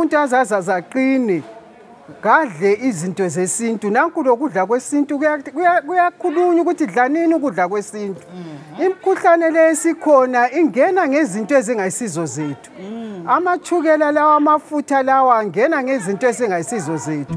umuntu azaza zaqine ngadle izinto zesintu nanku lokudla kwesintu kuyakhulunywa ukuthi dlanini ukudla kwesintu mhm. imikhuhlane le esikhona ingena ngezinto ezingayisizo zethu mm. amachukela lawa amafutha lawa angena ngezinto ezingayisizo zethu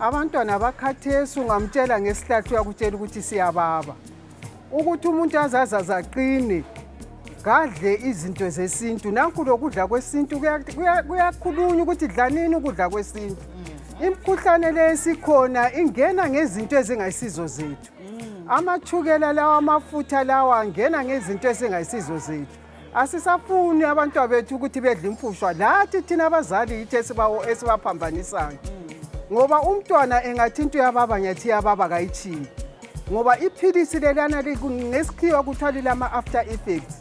abantwana bakhathesi ungamtshela ngesihlathi uyakutshela ukuthi siyababa ukuthi umuntu azazaze aqine kadle izinto zesintu nanku lokudla kwesintu kuyakhulunywa ukuthi dlanini ukudla kwesintu mm. imikhuhlane le esikhona ingena ngezinto ezingayisizo zethu mm. amachukela lawa amafutha lawa angena ngezinto ezingayisizo zethu asisafuni abantwa bethu ukuthi bedle imfushwa lathi thina abazali yithi esibaphambanisayo ngoba umntwana engathi into yababa ngiyathi yababa kayitshiyi ngoba iphilisi lelana ngesikhiwa kuthiwa lilama-after effects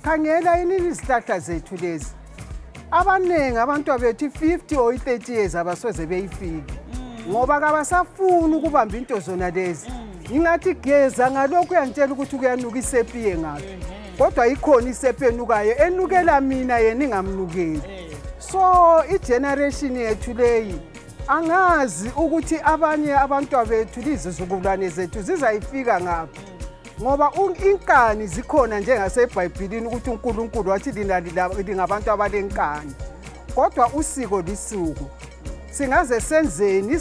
khangela yini izihlahla zethu lezi abaningi abantwa bethu i-50 or i-30 years abasoze beyifiki ngoba kabasafuni ukubamba into zona lezi ngingathi geza ngalokhu uyangitshela ukuthi kuyanuka isepiye ngakho kodwa ikhona isepha enukayo enukela mina yena ingamnukeli eh. so igeneration yethu leyi angazi ukuthi abanye abantwa bethu lizizukulwane zethu zizayifika ngaphi ngoba inkani zikhona njengasebhayibhilini ukuthi unkulunkulu wathi lina lingabantu abalenkani kodwa usiko lisuku singaze senzeni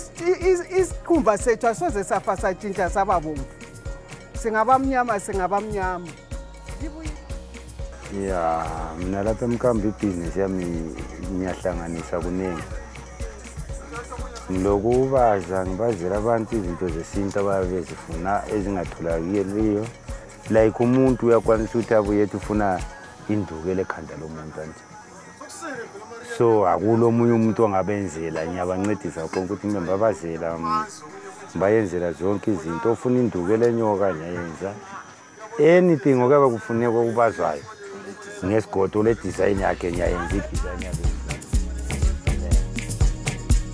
isikhumba sethu asoze safa satshintsha saba bomvu singabamnyama singabamnyama ya mina lapha emkambi ibhizinesi yami ngiyahlanganisa kuningi ngilokubaza ngibazela abantu izinto zesintu abayabe bezifuna ezingatholakeliyo like umuntu uyakwanisa ukuthi abuye ethi ufuna indukela ekhanda lomuntu anje so akulo omunye umuntu ongabenzela ngiyabancedisa konke ukuthi mbe babazela bayenzela zonke izinto ofuna induku elenyoka ngiyayenza anything okuyaba kufuneka okubazwayo ngesigodo le design yakhe ngiyayenza i-design yakhe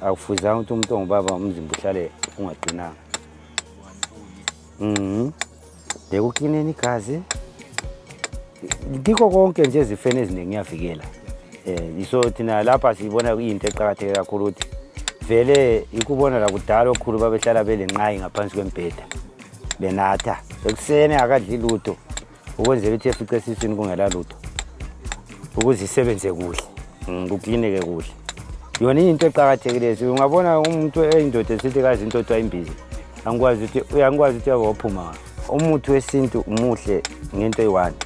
akufuzanga ukuthi umuntu ongubaba umzimba uhlale ungaqinanga mhm bekuklineni igazi kikho konke nje ezifeni eziningi ngiyavikela um iso thina lapha siyibona kuyinto eqakatheke kakhulu ukuthi vele ikubona lakudala okhulu babehlala belenqayi ngaphansi kwembheda benatha ekuseni akadli lutho ukwenzela ukuthi efice esiswini kungela lutho ukuze isebenze kuhle mm, kuklineke kuhle yona into eqakathekileyo ungabona umuntu eyindoda esithi kazi into othiwa imbizi angikwazi ukuthi uyangikwazi ukuthi yake waphuma umuthi wesintu umuhle ngento eyi-one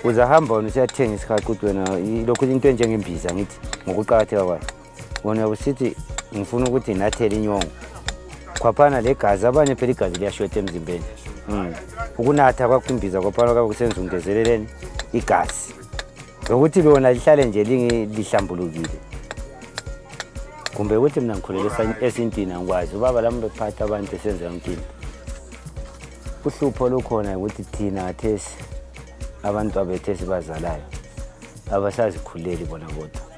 uze ahamba wona usuyathenga isikhaquti wena lokhu into enjengembiza ngithi ngokuqakatheka kwayo wona usiti mfuna ukuthi nathele inyongo kwaphana le gazi abanye phela igazi liyashota emzimbeni mm. ukunatha kwakhumbiza kwaphana kwabe kusenza ungezeleleni igazi lokuthi lona lihlale nje lihlambulukile kumbe ukuthi mina ngikhulele esintini angikwazi ubaba lami bekuphatha abantu esenza yonke into uhlupho olukhona ukuthi thina ngathesi abantu abethu esibazalayo abasazikhuleli bona kodwa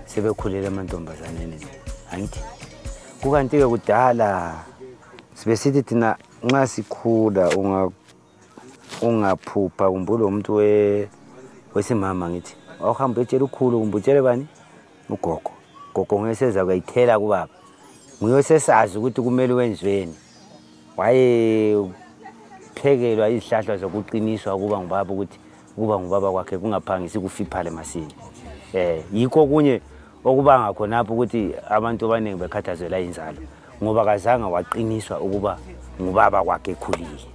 sebekhulele amantombazaneni angithi kukanti-ke kudala sibe sithi thina nxa sikhula ungaphupha kumbe ulomuntu wesimama ngithi wawuhamba uyotshela ukhulu kumbe utshele bani ugogo gogo nguyoseza kuyayithela kubaba nguyosesazi ukuthi kumele wenzweni wayephekelwa izihlahla zokuqiniswa ukuba ngubaba ukuthi ukuba ngubaba kwakhe kungaphangisi kufiphale masinya um yikho okunye okubanga khonapho ukuthi abantu abaningi bekhathazela inzalo ngoba kazange waqiniswa ukuba ngubaba kwakhe ekhulile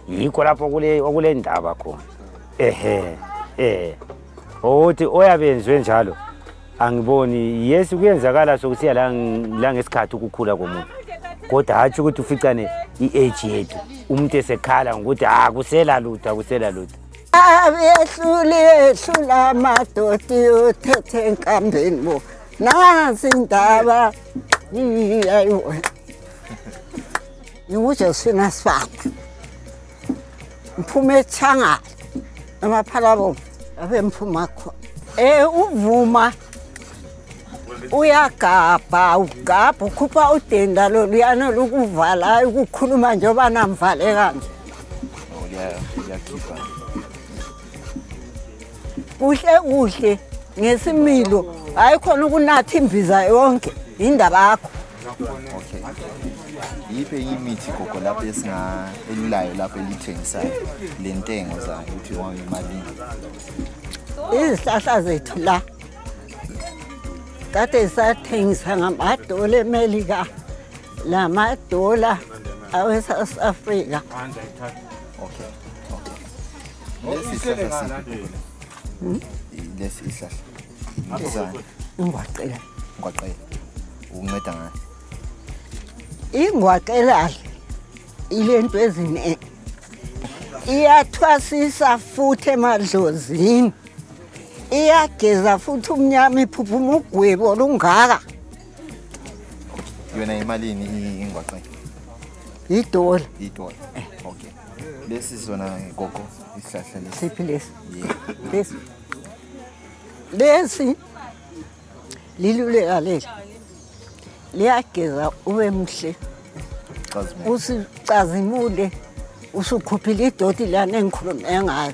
yikho lapho okule ndaba khona ehe um ukuthi oyabenzwe njalo angiboni yes kuyenzakala sokusiya la ngesikhathi ukukhula komuntu kodwa hatshi ukuthi uficane i-age yethu umuntu esekhala ngokuthi ha ah, kusela lutho akusela lutho abehluli ehlula amadoti uthethe enkambeni bo nazi indaba ayiwona ingujosephine asifana Mphume changa amaphalabo abe mphuma kho. Eh uvuma uyagabha ugabha ukhupha udenda loluyana lokuvalayo ukukhuluma njengoba namvale kanje oh, kuhle kuhle ngesimilo hayi khona ukunatha imbiza yonke yindaba yakho okay yiphi enye imithi gogo lapho esingaelulayo lapho elithengisayo le ntengo zayo ukuthi wanga imalini izihlahla zethu la kade zisathengisa ngamadola emelika la madola awesouth africa okay Lesi ihlele isihlahla ngala. si- Eh, lesi isihlahla Ngapha Isana. kwekhona. ingwaqela ngwaqela ukunceda ngayo ingwaqelala ilento eziningi iyathwasisa futhi emadlozini iyageza futhi umnyama iphuphuma ugwebu olungaka yona imalini i- ingwaqela yidola itola okay lesi sona gogo isihlahla lesi siphi lesi lesi lesi liluleka leli liyageza ube mhle usicazimule usukhuphile idoti lana engikhulume ngayo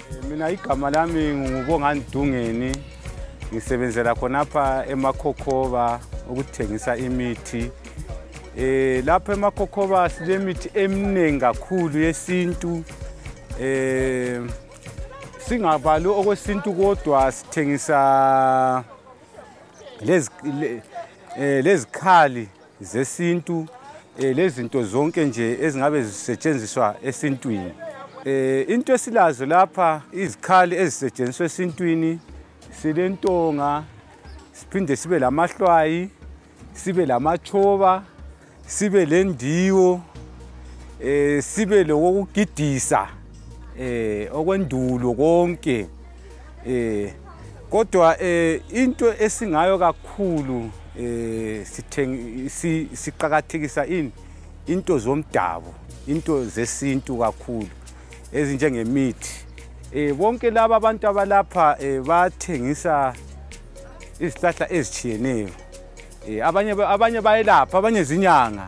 mina igama lami ngubongani dungeni ngisebenzela khonapha emakhokhoba ukuthengisa imithi eh lapha emakhokhoba silemithi eminingi kakhulu yesintu eh singabali okwesintu kodwa sithengisa lezi eh, lezikhali zesintu eh, lezinto zonke nje ezingabe zisetshenziswa esintwini eh, into esilazo lapha izikhali ezisetshenziswa esintwini silentonga siphinde sibe lamahlwayi sibe lamatshoba sibe lendiwo eh sibe lokugidisa eh okwendulo konke eh kodwa eh into esingayo kakhulu eh sithengi siqhakathekisa ini into zomdabu into zesintu kakhulu ezinjengemithi eh bonke laba abantu abalapha eh bathengisa izihlahla ezitshiyeneyo eh abanye abanye bayelapha abanye zinyanga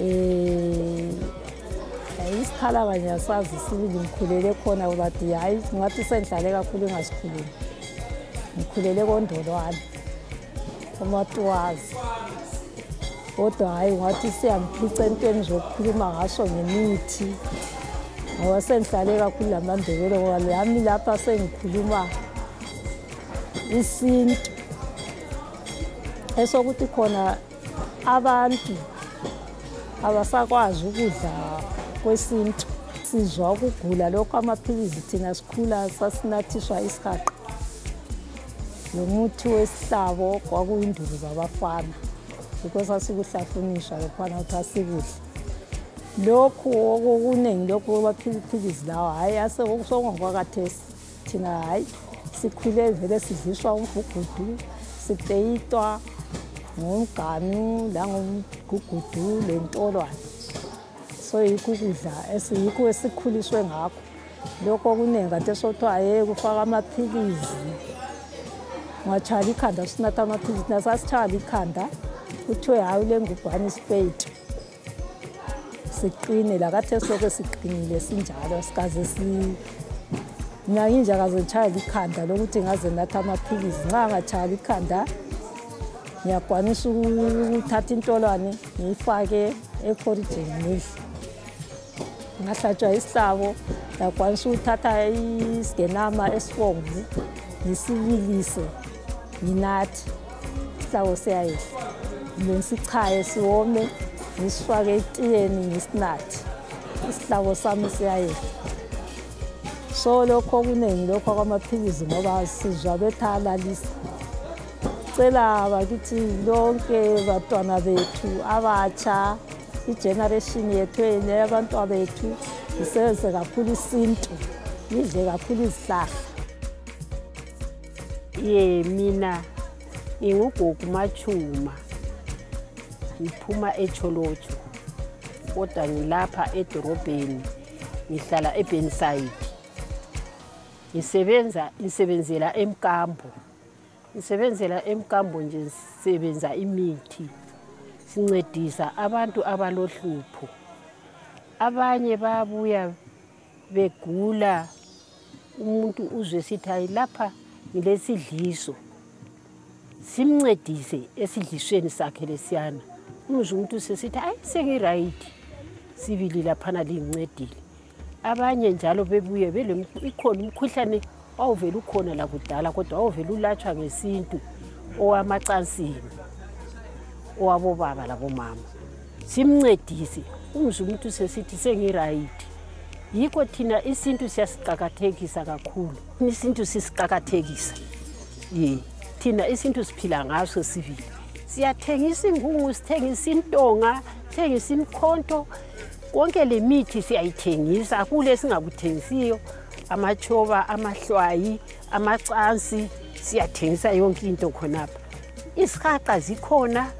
um isikhalabanye asazi sibili ngikhulele khona bathi hhayi ngathi sendlale kakhulu ingasikhulumi ngikhulele kondolwane umatuwazi kodwa hhayi ngathi siyangiphica entweni zokukhuluma ngaso ngemithi ngoba sengihlale kakhulu la mandebele ngoba lami lapha sengikhuluma isintu esokuthi khona abantu abasakwazi ukudla kwesintu sizwa ukugula lokho amaphilisi thina sikhula sasinathiswa isihaqa lomuthi wesihlabo kwakuyinduku zabafana yikho sasikuhlafuniswa lokhwana ukuthi asikudle lokhu okuningi lokhu amaphilisi lawa hhayi asekusongokwakathesi thina hayi sikhule vele sidliswa umgugudu sipeyitwa ngomganu langomgugudu lentolwane so yikho ukudla yikho esikhuliswe ngakho lokho okuningi kade sothiwa ye kufaka amaphilisi ungatshayela ikhanda usunatha amaphilisi nasasitshayela ikhanda kuthiwe hayi ule ngubhane isipeyiti siqine lakathe soke siqinile sinjalo sikaze ngingakinje akazotshaya likhanda lokuthi ngaze natha amaphilisi nxa ngatshaya likhanda ngiyakwanisa ukuthatha intolwane ngiyifake ekhorijini ngidle ngahlatshwa isihlabo ndakwanisa ukuthatha isigenama esibomvu ngisibilise nginathi isihlabo siyayehla kumbe ngisichaye siwome ngisifake etiyeni ngisinathi isihlabo sami siyayehla so lokho okuningi lokho kwamaphilisi ngoba sizwa bethalalisa cela bakithi lonke batwana bethu abatsha igeneration yethu eyabantwa bethu isebenzise kakhulu isintu idle kakhulu izihlahla ye mina ngingugogo machuma ngiphuma echolotsho kodwa ngilapha edorobheni ngihlala ebenside ngisebenza ngisebenzela emkambo ngisebenzela emkambo nje ngisebenza imithi sincedisa abantu abalohlupho abanye bayabuya begula umuntu uzwe sithi hayi lapha ngilesidliso simncedise esidlisweni sakhe lesiyana umzwe umuntu sesithi hayi sengirayithi sibili laphana lingincedile abanye njalo bebuye ikhona umkhuhlane wawuvele ukhona lakudala kodwa wawuvele ulatshwa ngesintu owamacansini owabobaba labomama simncedise umzi umuntu sesithi sengirayithi yikho thina isintu siyasiqakathekisa kakhulu isintu sisiqakathekisa ye thina isintu siphila ngaso sivile siyathengisa ingungu sithengisa intonga sithengisa imkhonto konke le mithi siyayithengisa kule esingakuthengisiyo amatshoba amahlwayi amacansi siyathengisa yonke into khonapha isihaqa zikhona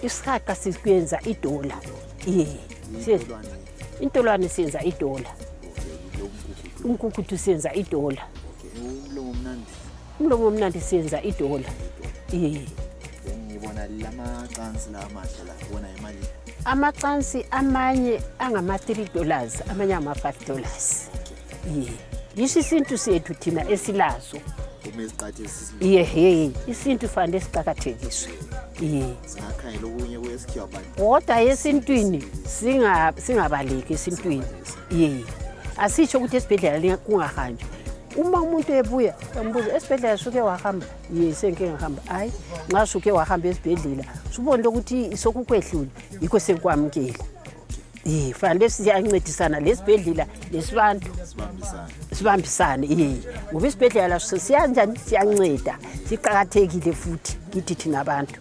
isihaqa sikuyenza idola ye intolwane siyenza idola umkukuthu siyenza idola umlomo omnandi siyenza idola iye ngibona lamacansi la amahle la wona yimalini amacansi amanye angama-three dollars amanye angama-five dollars iye yisho isintu sethu thina esilazo iye ye isintu fanele siqakathekiswe iye kodwa esintwini singabaleki esintwini iye asisho ukuthi esibhedlela kungahanjwa uma umuntu ebuya embuza esibhedlela suke wahamba ye sengike ngihamba hhayi nxa suke wahamba esibhedlela subonile ukuthi sokukwehlule yikho sekukwamukela ye fanele siyancedisana lesibhedlela lesibantu sibambisane ye ngoba isibhedlela laso siyanjani siyanceda siqakathekile futhi kithi thina abantu